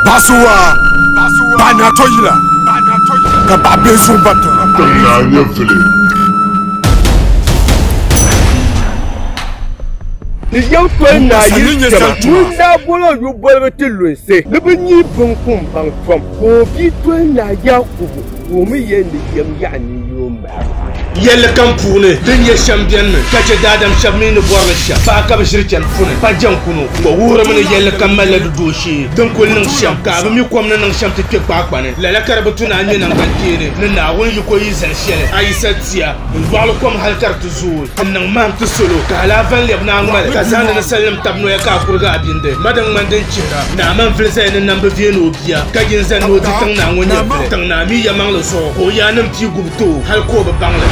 Basuwa ba na to yila ka ba be sun ba ta na nye fili Ni yɛm foli na yiri jɛma ŋun daa bolo yu bolibu ti lunsi ni bi nyi bin kum baŋ tom ka o bi toli na ya kubu ka o mi yɛ ni yɛm yaɣa ni Yɛlli kam puuni din nyɛ shɛm bɛnimi ka chɛ daadam shɛb mi ni bɔri ni shɛm paɣa ka bɛ ʒiri chani puni. Pa jɛnkunu ka o wuhirimi ni yɛlli kam malila di dooshee din kuli niŋ shɛm ka a bi mi kom ni niŋ shɛm ti kpe kpaakpa ni. Lala ka di bi tu ni a nya naŋgbankpeeni ni Naawuni yiko yi zali shɛli a yi sa tia n-dɔɣili kom hal ka di ti zooi. Ti niŋ mahim ti salo ka hal a va n-lɛbi ni a ŋmali, ka zahindi ninsalinim tabi noya ka a kurigi a bindi. Ma din ŋmani din chihira, Naaman vili zaya ni nam bi veei ni o bia, ka yi n-zani ni o di tiŋ naa ŋɔ nyɛvili. Tiŋ naa mi yɛmaŋli zuɣu ka o yaannim pii gubi ti o hal ka o bi baŋ li.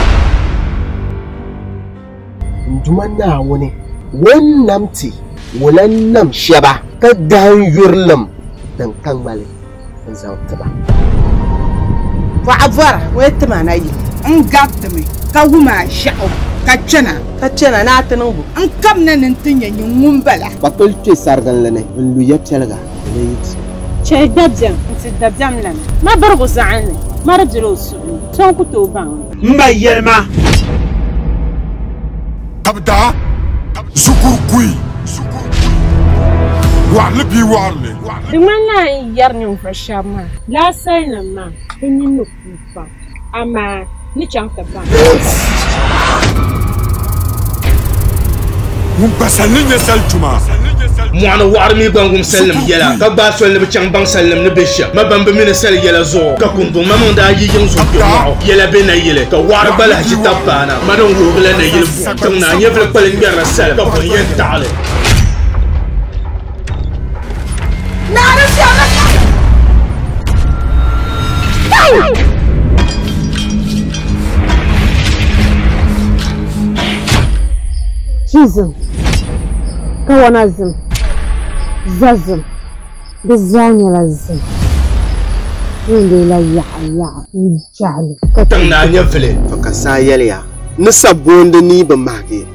N Duuma Naawuni, ŋun nam ti o lan nam shɛba. Ka dahin yurilim din ka ŋmali. n zaŋ ti ba. Bɔɣa bɔra o yi ti ma na yi. N garitimi ka wum a ʒiɛɣu ka chana. Ka chana ni a ti niŋ bɔ? N kabina ni n ti nya nyin ŋun bala. Kpakpili kpe sariginli ni n lu ya piɛliga di ni yi ti. Chɛli dabiɛm n-ti dabiɛm lana. Ma birigu zaɣin ni ma di bela o suhu ni. So n-ku tooi baŋ li. M ba yɛli ma ka bɛ daa zukur kuyi waɣinli bia waɣinli. Di ŋmanila a ni yɛri ninvuɣ shɛb maa ni a salinim maa, bɛ nini ni kuui pam, amaa n ni chaŋ ti baŋ ka bɛ bi baŋ. Ŋun pa sali ni nya sali tuma. Mɔɣuni wɔɣiri mi gba n-wum salinim yɛla, ka gbaai soli ni bɛ chaŋ baŋ salinim ni be shɛm ma bɛn bi mi ni sali yɛla zuɣu. Ka kunduŋ ma maŋ daa yi yiŋ zuɣu kpɛmɔɣu yɛla be nayili, ka wɔɣiri gba lahi ʒi tab paana ma din wuhigila nayili buɣim tiŋ ni a nyɛvili kpali ŋmɛrila sali ka buɣim yɛn taɣi li. Chizim, kawana zim, zazim, di zaa nyɛla zim. Wundeela yaɣa yaɣa n jahili. Tiŋ naa nyɛ vili. Ka saa yɛliya ni sabbooni ni bi mahigi.